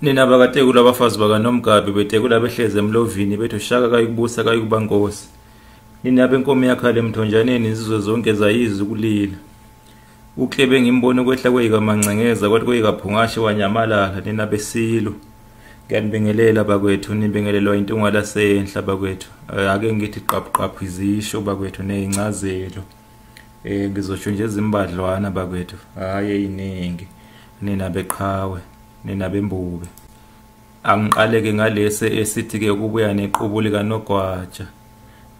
nina bakatekula abafazi bakanomgabi betekula behlezi emlovini bethi ushaka kayikubusa kayikuba nkosi nina benkomo yakhala emthonjaneni izizwe zonke zayizi ukulila uklebe ngimbona ukwehla kweyikamancenkeza kwathi kweyikaphungashe wanyamalala nina besilo ngiyanibingelela bakwethu nibingelelwa intunga lasenhla bakwethu eh, ake ngithi qabuqabhu izisho bakwethu neyincazelo Eh ngizosho nje izimbadlwana bakwethu hayi eyiningi nina beqhawe nina bembube angiqaleke ngalesi esithi ke ukubuya nequbu lika Nogwaja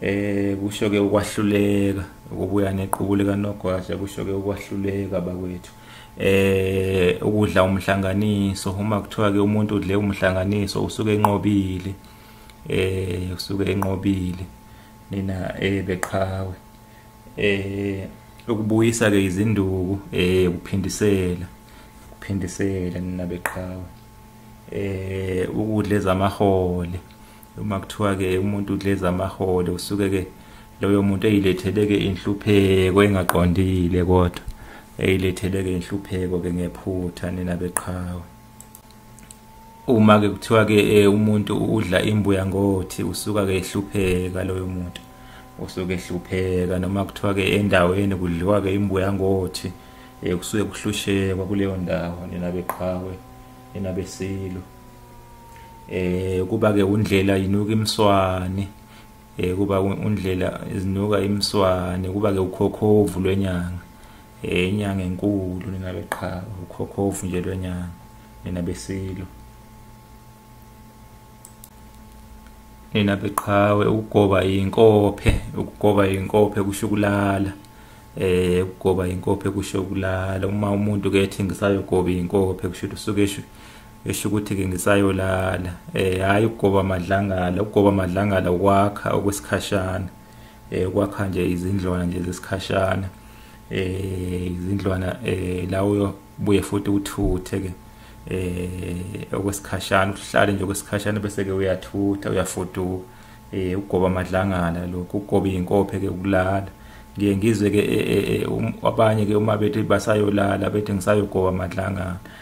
eh kusho ke ukwahluleka ukubuya nequbu lika Nogwaja kusho ke ukwahluleka bakwethu eh ukudla umhlanganiso uma kuthiwa ke umuntu udle umhlanganiso usuke enqobile eh usuke enqobile nina eh beqhawe eh ukubuyisa ke izinduku eh ukuphindisela ukuphindisela nina beqhawe eh ukudla ezamahole uma kuthiwa ke umuntu udla ezamahole usuke ke loyo muntu eyilethele ke inhlupheko engaqondile kodwa eyilethele ke inhlupheko ke ngephutha nina beqhawe uma ke kuthiwa ke eh, umuntu udla imbuya ngothi usuka ke ehlupheka loyo muntu usuke ehlupheka noma kuthiwa ke endaweni kudliwa ke imbuya ngothi eh, kusuke kuhlushekwa kuleyo ndawo nina beqhawe nina besilo eh kuba ke undlela yinuka imswane eh kuba undlela izinuka imswane kuba ke ukhokhovu lwenyanga eh inyanga enkulu nina beqhawe ukhokhovu nje lwenyanga nina besilo nina beqhawe ukugoba inkophe ukugoba inkophe kushukulala eh ukugoba inkophe kusho kulala uma umuntu ke ethi ngisayogoba inkophe kusho ukuthi usuke esho ukuthi-ke ngisayolala um hhayi ukugoba amadlangala ukugoba amadlangala ukwakha okwesikhashana um ukwakha nje izindlwana nje zesikhashana um izindlwana um la uyobuye futhi uthuthe-ke um okwesikhashana uhlale nje okwesikhashana bese-ke uyathutha uyafuduka um ukugoba amadlangala lokhu ukugoba iy'nkophe-ke ukulala ngiye ngizwe-ke e, e, e, um, abanye-ke uma bethi basayolala bethi ngisayogoba amadlangala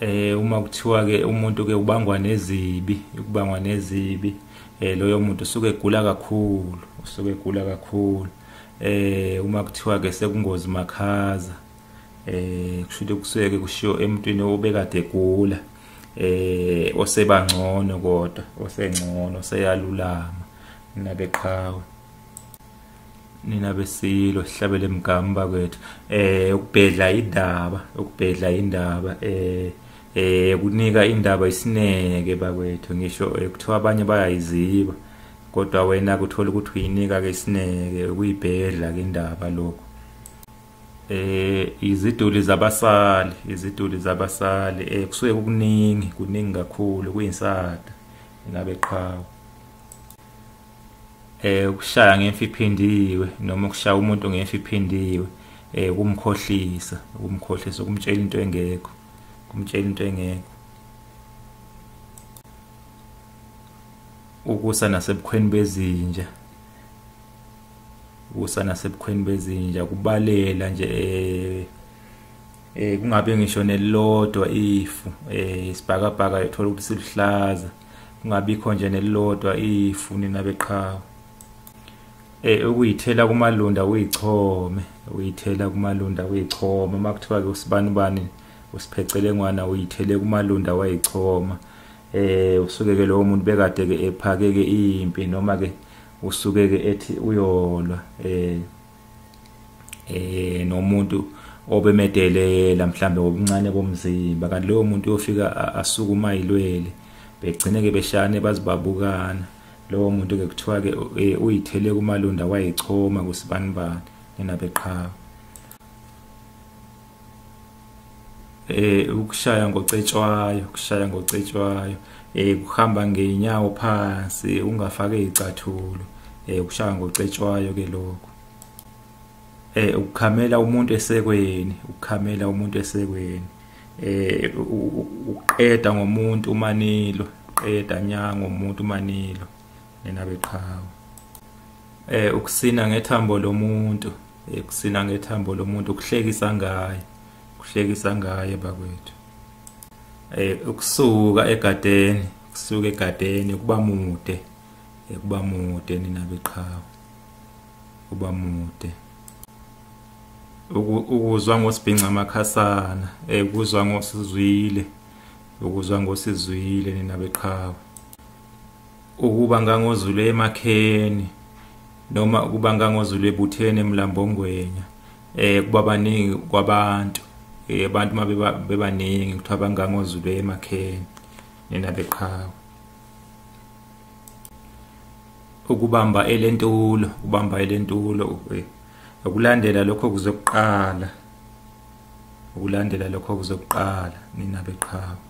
eh uma kuthiwa ke umuntu ke ubangwa nezibi ukubangwa nezibi eh loyo muntu usuke egula kakhulu usuke egula kakhulu eh uma kuthiwa ke sekungozi makhaza eh kushuthi kuseke kushiyo emntwini obekade egula eh osebangcono kodwa osengcono seyalulama nabeqhawe nina besilo sihlabele mgamba kwethu eh ukubhedla indaba ukubhedla indaba eh eh kunika indaba isineke bakwethu ngisho eh, kuthiwa abanye bayayiziba kodwa wena kuthola ukuthi uyinika ke isineke ukuyibhedla ke indaba lokho eh iziduli zabasali iziduli zabasali eh kusuke kuningi kuningi kakhulu kuyinsada ngabe qhawe eh ukushaya ngemfi iphindiwe noma ukushaya umuntu ngemfi iphindiwe eh kumkhohlisa kumkhohlisa ukumtshela into engekho kumtshela into engekho ukusa nasebukhweni bezinja ukusa nasebukhweni bezinja kubalela nje eh eh kungabe ngisho nelilodwa ifu eh isibhakabhaka yothola ukuthi siluhlaza kungabikho nje nelilodwa ifu nina beqhawe eh ukuyithela kumalunda uyichome uyithela kumalunda uyichoma makuthiwa ke usibani bani usiphecele ngwana uyithele kumalunda wayichoma eh usuke ke lowo muntu bekade ke ephake ke impi noma ke usuke ke ethi uyolwa eh eh nomuntu obemedelela mhlambe wobuncane bomzimba kanti lowo muntu uyofika asukuma ilwele begcine ke beshane bazibabukana lowo muntu ke kuthiwa ke e, uyithele kumalunda wayichoma kusibanibani ninabeqhawe eh ukushaya ngocetshwayo ukushaya ngocetshwayo eh kuhamba ngeenyawo phansi ungafake izicathulo eh ukushaya ngocetshwayo ke lokho eh ukukhamela umuntu esekweni ukukhamela umuntu esekweni eh uqeda ngomuntu umanilo uqeda nya ngomuntu umanilo nina beqhawe eh ukusina ngethambo lomuntu ekusina eh, ngethambo lomuntu ukuhlekisa ngaye ukuhlekisa ngaye bakwethu eh ukusuka egadeni ukusuka egadeni kuba mude eh, kuba mude nina beqhawe kuba mude ukuzwa ngosibhinca amakhasana eh kuzwa ngosizwile ukuzwa ngosizwile nina beqhawe ukuba ngangozulu emakheni noma ukuba ngangozulu ebutheni emlambongwenya eh kuba baningi kwabantu eh abantu mabeba bebaningi kuthiwa bangangozulu emakheni nina beqhawe ukubamba elentulo ubamba elentulo eh, ukulandela lokho kuzokuqala ukulandela lokho kuzokuqala nina beqhawe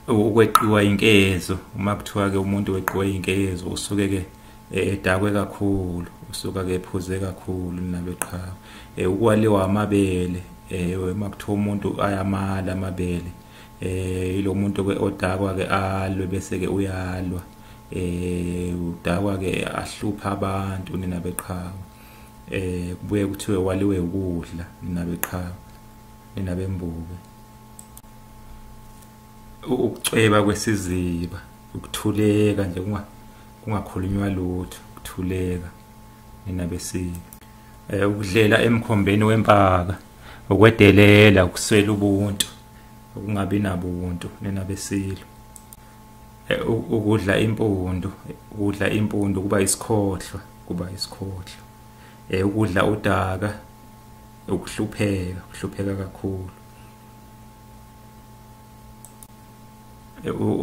ukweqiwa inkezo uma kuthiwa ke umuntu weqiwa inkezo usuke ke eh, edakwe kakhulu usuka ke ephuze kakhulu naloqhawe eh, ukwaliwa amabele eh, uma kuthiwa umuntu ayamala amabele eh ilo muntu ke odakwa ke alwe bese ke uyalwa eh udakwa ke ahlupha abantu nina beqhawe eh kubuye kuthiwe waliwe ukudla nina beqhawe nina bembuke ukucweba kwesiziba ukuthuleka nje kungakhulunywa lutho ukuthuleka nina besile um eh, ukudlela emkhombeni wempaka ukwedelela ukuswela ubuntu ukungabi nabo ubuntu nina besilo eh, ukudla impundu ukudla impundu kuba isikhohlwa kuba isikhohlwa um ukudla udaka ukuhlupheka ukuhlupheka kakhulu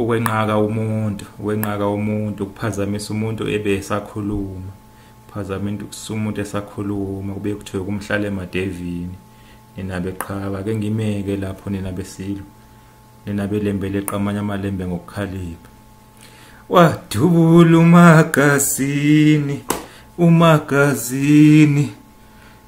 ukwenqaka umuntu ukwenqaka umuntu ukuphazamisa umuntu ebe esakhuluma phazamisa umuntu esakhuluma kube kuthiwe kumhlale emadevini nina beqhaba ke ngimeke lapho nina besilo nina belembele qamanya amalembe ngokukhalipha wadubula umagazini umagazini